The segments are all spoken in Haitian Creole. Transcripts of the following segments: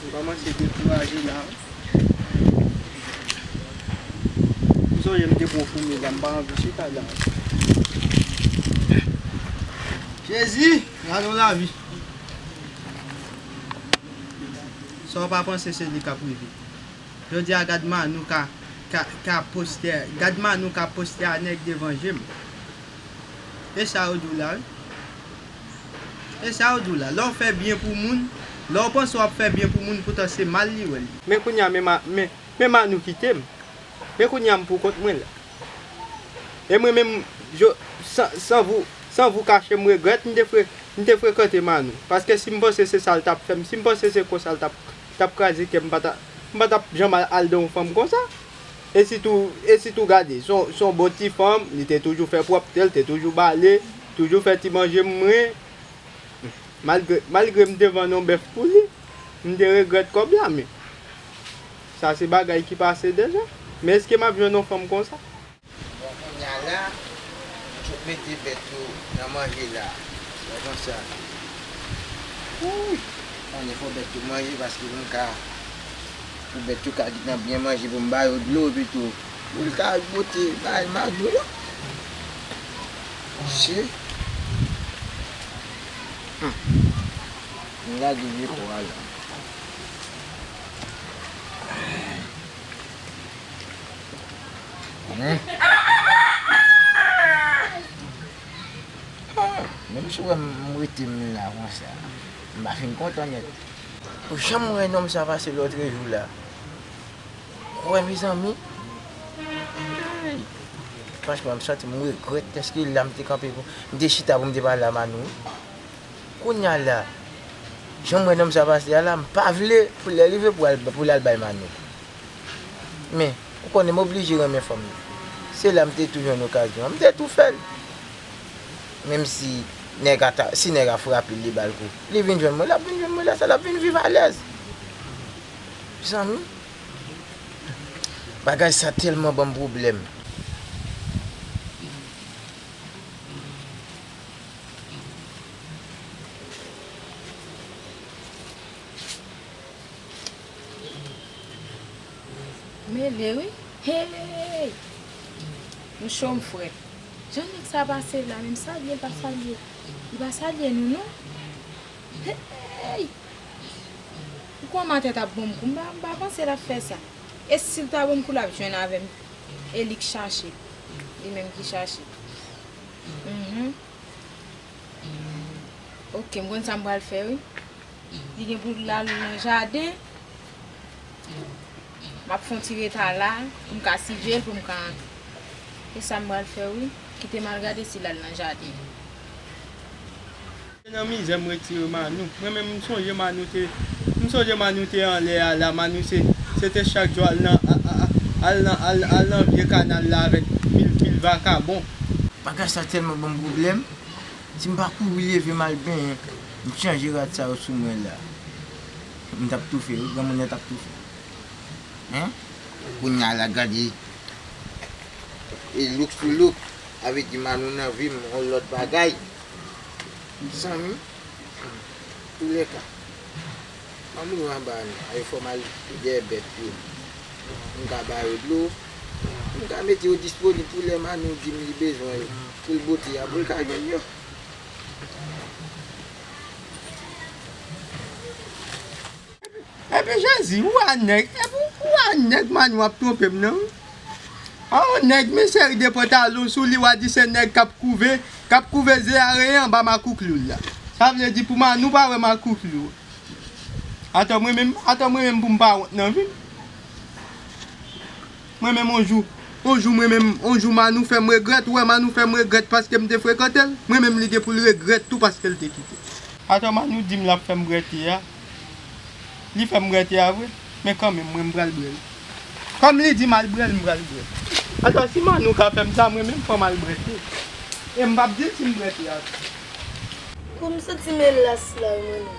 Yo komanse dekouraje la wi. M sonje m te pran foumi la m pa anvi chita la. Jezi gade yon lavi. Sa w pa panse se li k ap rive. Jodi a gad Manou ka ka poste gad Manou ka poste a nèg devan je m. E sa yo di w la wi. Esa ou di w la, lè w fè byen pou moun, lè w panse w ap fè byen pou moun poutan se mal li wè l ye. Men kounye a men Manou kite m, men kounye a m pou kont mwen la. E mwen menm san vou kache m regrèt m te frekante Manou. Paske si m panse se sa l t ap fè m, si m panse se konsa l t ap kraze kè m, m pa t ap janm al dan yon fanm konsa. E sitou, e sitou gade, son, son bon ti fanm, li te toujou fè pwòpte, li te toujou bale, toujou fè ti manje mwen, malgre, malgre m te vann yon bèf pou li, m te regrèt kòb la men, sa se bagay ki pase deja, men eske m ap jwenn yon fanm konsa? Bon kounya la, nou sot mete bèt yo nan manje la, wè jan sa ye. Wouuyy! Bon lè fò bèt yo manje paske moun ka. Pou bèt yo ka gentan byen manje pou m ba yo dlo epi tou pou l ka al bwote bay madou yo. Mesye! Hum! M lage vye po a la. Hum! Menm si w wè m rete m la konsa. M pa fin kontan nèt. Pou janm wè nonm sa pase lotre jou la kwè mezanmi eyy franchman m santi m regrèt deske la m te kanpe pou m te chita pou m te pale a Manou wi kounya la janm wè nonm sa pase a la m pa vle pou lè rive pou al pou lal bay Manou men ou konnen m oblije renmen fanm nan se la m te tou jwenn okazyon an m te tou fèl. Menm si nèg a ta, si nèg a frape l, li ba l kou, li vin jwenn mwen, l ap vin jwenn mwen lè sa, l ap vin viv alèz. Mezanmi! Bagay sa tèlman ban m pwoblèm. Mele wi! Hey! M cho m frèt. Jan nèg sa pase la menm salyel pa salye li pa salye nou non heyy pou kòmantè tap bon m kou m pa panse lap fè sa e sil ta bon m kou lap jwenn avèm e lik chache li menm ki chache humm ok m konn sa m pral fè wi li gen pou lal nan jaden. M ap fè yon ti reta la pou m ka siveye l pou m ka antre. Se sa m pral fè wi. Kite m al gade si l al nan jaden an. Se nan mizè m retire Manou. Mwen menm m sonje Manou te m sonje Manou te anlè a la. Manou se se te chak jou al nan al nan al nan vye kanal la avèk pil pil vakabon. Bagay sa tèlman ban m pwoblèm. Si m pa kouri leve m al benyen m chanje rad sa yo sou mwen la. M tap toufe wi granmoun yo tap toufe hein. Kounya la gade e look sou look sa vle di Manou nan vim yon lòt bagay mezanmi antoulèka Manou yo anba a nou a yo fò mal dèyè bèt yo m ka ba yo dlo m ka mete yo disponib pou lè Manou dim li bezwen yo poul bote a poul ka jwenn yo. Epi jezi ou a nèg epi ou a nèg man wap tronpem nan wi a on nèg men seri de pantalon sou li wa di se nèg kap kouve kap kouve ze a reye anba makoukli w la sa vle di pou manou pa wè makoukli w atò mwen menm atò mwen menm poum pa wont nan vim. M renmenm on jou On jou m renmenm On jou Manou fè m regrèt Ou wè Manou fè m regrèt Paske m te frekante l M renmenm li gen pou l regrèt tou Paske l te kite m. Atò Manou di m l ap fè m brète a Li fè m brète a vre Men kanmenm mwen m pral brè l Kòm li di m al brè l m pral brè l Atò si Manou ka fè m sa m renmenm fò m al brète E m p ap di l si m brète a tou. Kou m santi m elas la w Manou.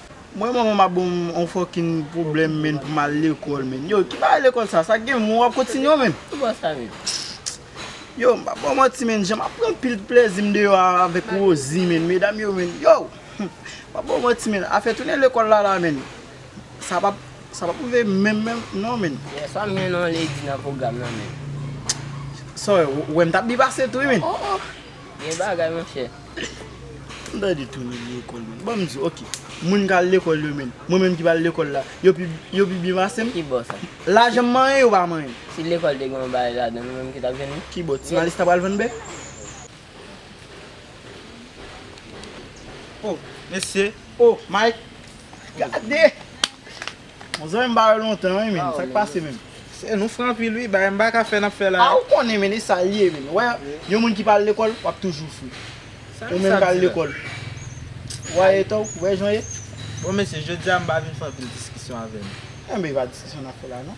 Mwen manman map bon on fòkin problèm menn pou mal lekòl menn yo ki bagay lekòl sa sa gen moun wap kontinye menn yo m pap baw manti menn jan map pran pil plèzim deyò a avèk Rosie menn medam yo menn yo m pap baw manti menn afè tounen lekòl la la menn sa pap sa pap rive menm menm non menn sa m gen nan lady nan pwogram nan menn sa w wèm tap byen pase tou wi menn. Bon bagay monchè. M ta di tounen lekòl menn. Bon m di w ok. Moun k al lekòl yo menn. Mwen menm ki pa al lekòl la. Yo pi yo pi byen pase m. Ki bò sa? Lajan m manyen yo pa manyen. Si lekòl te gen yon bagay ladan l ou menm ki t ap jwenn li? Ki bò? Ti Malis ta pral vann bè? O! Mesye! O! Mike! Gade! Bon zanmi m pa wè lontan wi menn sak pase menn. Sè nou fre anpil wi bagay m paka fè nap fè la. A ou konnen menn e sal ye menn wè yon moun ki pa al lekòl wap toujou fre ou menm kal lekòl wa eta ou wè jan ye. Bon mesye jodia m pa vin fè anpil diskisyon avè nou. Enben e pa diskisyon nap fè la non.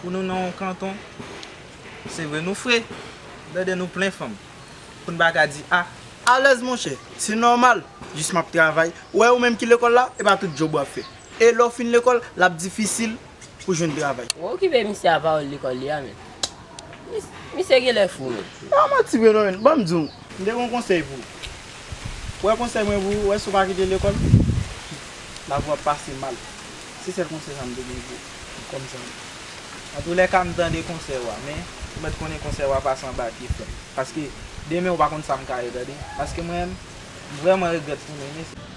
Pou nou nan yon kanton Se vre nou fre Dèdè nou plen fanm Pou n pa ka di a. Alèz monchè Se nòmal Jis m ap travay Ou wè ou menm ki lekòl la E pa tout djòb w ap fè E lè w fin lekòl, l ap difisil pou jwenn travay. Ou okipe misye a pawòl lekòl li a menm. Misye genlè fou menm. Se pa manti vre non menn. Ban m di w. M te gen yon konsèy pou ou. Premye konsèy mwen pou ou, wè si w pa kite lekòl, lavi w ap pase mal. Se sèl konsèy sa m te gen pou ou, kòm zanmi. Antoulèka m tande konsèy ou a, men, ou mèt konnen konsèy ou a pase anba pye frè m. Paske, demen ou pa konn sa m ka ye tande. Paske mwen menm, m vrèman regrèt fou m renmen sa.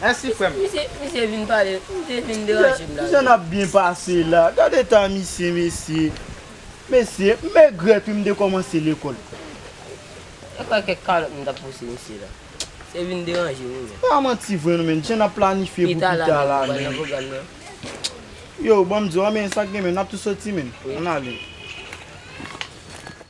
Mèsi frèm. Misye vin pale, misye vin deranje m la. Kijan nap byen pase la. Gad eta misye mesye. Mesye m egrèt wi m te kòmanse lekòl. Mwen kwè kèk kalòt m tap pouse misye la. Misye vin deranje m wi menn. Pa manti vre non menn. Jan nap planifye pou pita la menn. Yo banm diw an men sak gen menn nap tou soti menn. Ann ale.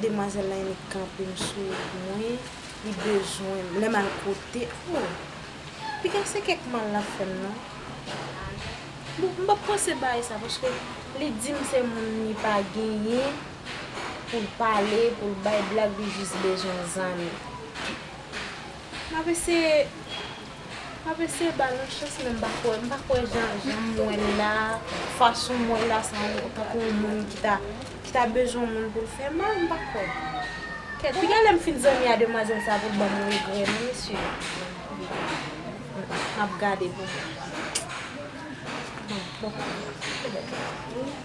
Demwazel la ennik kanpem sou mwen li bezwenm lem al kote oh piga se kek mal lap fem non bon m pap panse bay sa paske li dim se moun li pa genyen poul pale poul bay blag li jis bezwen zanmi. Map eseye Map eseye bal yon chans men m pa kwè m pa kwè jan janm wèl la fasonm wèl la sa on tankou on moun ki ta ki ta bezwen on moun poul fè mal m pa kwè kèt pi gen lèm fin zanmi a demwazèl sa poul banm regrè non mesye map gade pou mwen bon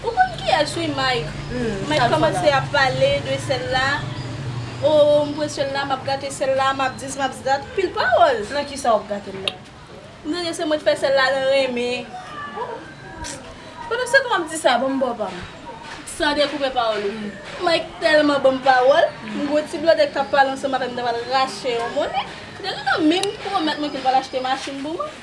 Ou konn kiyes wi Mike. Mike komanse ap pale de sel la oh m pran sel la map gate sel la map dis map dat pil pawol. Nan kisa wap gatel la. M tande se mwen t fè sèl la nan renmen. Ohh pandan setan wap di sa banm baw pam. San dekoupe pawol ou. Mike telman banm pawol. M gwo ti blòdè kap pale ansanm avèm m ta pral rache yon mone. Dèlina menm pwomèt mwen kel pral achte machin pou mwen.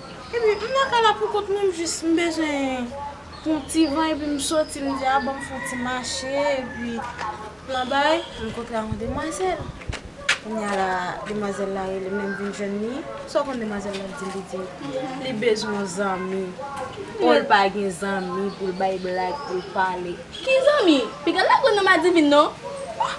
Epi m nan kay la poukont mwen m jis m bezwen pou yon ti van epi m soti m di a banm fon ti mache epi m nan bay m kontre ak yon demwazèl kounya la demwazèl la rele m lèm vin jwenn li sa w konn demwazèl la di li di li bezwen yon zanmi o l pa gen zanmi pou l bay blag pou l pale. Ki zanmi? Piga la grann nan madivin non. Ohh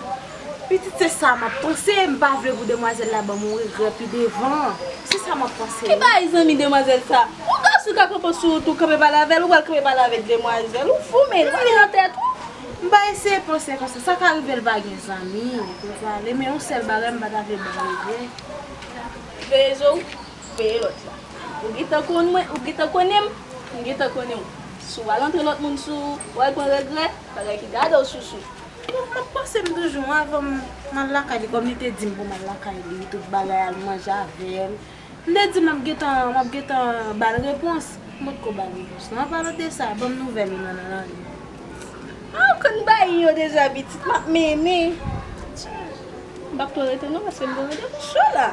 pitit se sa map panse m pa vle pou demwazel la banm yon regrè pi devan se sa map panse wi. Ki bay zanmi demwazel sa? Yon gason ka konpon sou wout ou kanpe pale avèl ou pral kanpe pale avèk demwazel ou fou menn ou pa gen nan tèt ou. M pa eseye panse konsa sa ka rive l pa gen zanmi li pral pale men yon sèl bagay m pa ta vle banm regrè. Veye je w. Veye lòt la. Ou gentan konn mwen, ou gentan konnen m, m gentan konnen w. Si w al antre lòt moun sou ou, w al pran regrè, bagay ki gade w sousou. Bon, m ap panse m toujou avan m al lakay li, kòm li te di m pou m al lakay li, tout bagay, al manje avè l. M te di m ap gentan, m ap gentan ba l repons. M potko ba l repons non. Anpalan de sa, ban m nouvèl ou nan nan lari a. A, ou konn bay yo deja pitit, m ap mennen. M pap twò rete non paske m gen randevou sou la.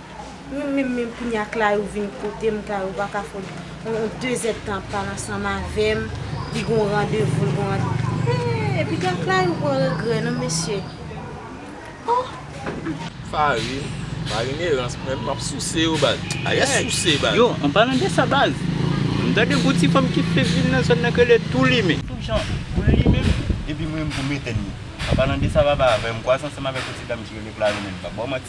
Min min min kounya clayou vin kotem clayou paka fout on 2 zèd tan ap pale ansanm avèm li gon randevou l gon randevou eeh epita clayou pran regrè nan mesye ohh. Farine, farine erans menm map souse yo baz, ayè souse baz. Yo an palan de sa baz m tande gon ti fanm ki fenk vin nan zòn nan ki rele tou limen. Tout jan pou l limen epi m renmen pou m etenn li. An palan de sa papa avè m kwaze ansanm avèk on ti dam ki rele clayou menm pa ba w manti.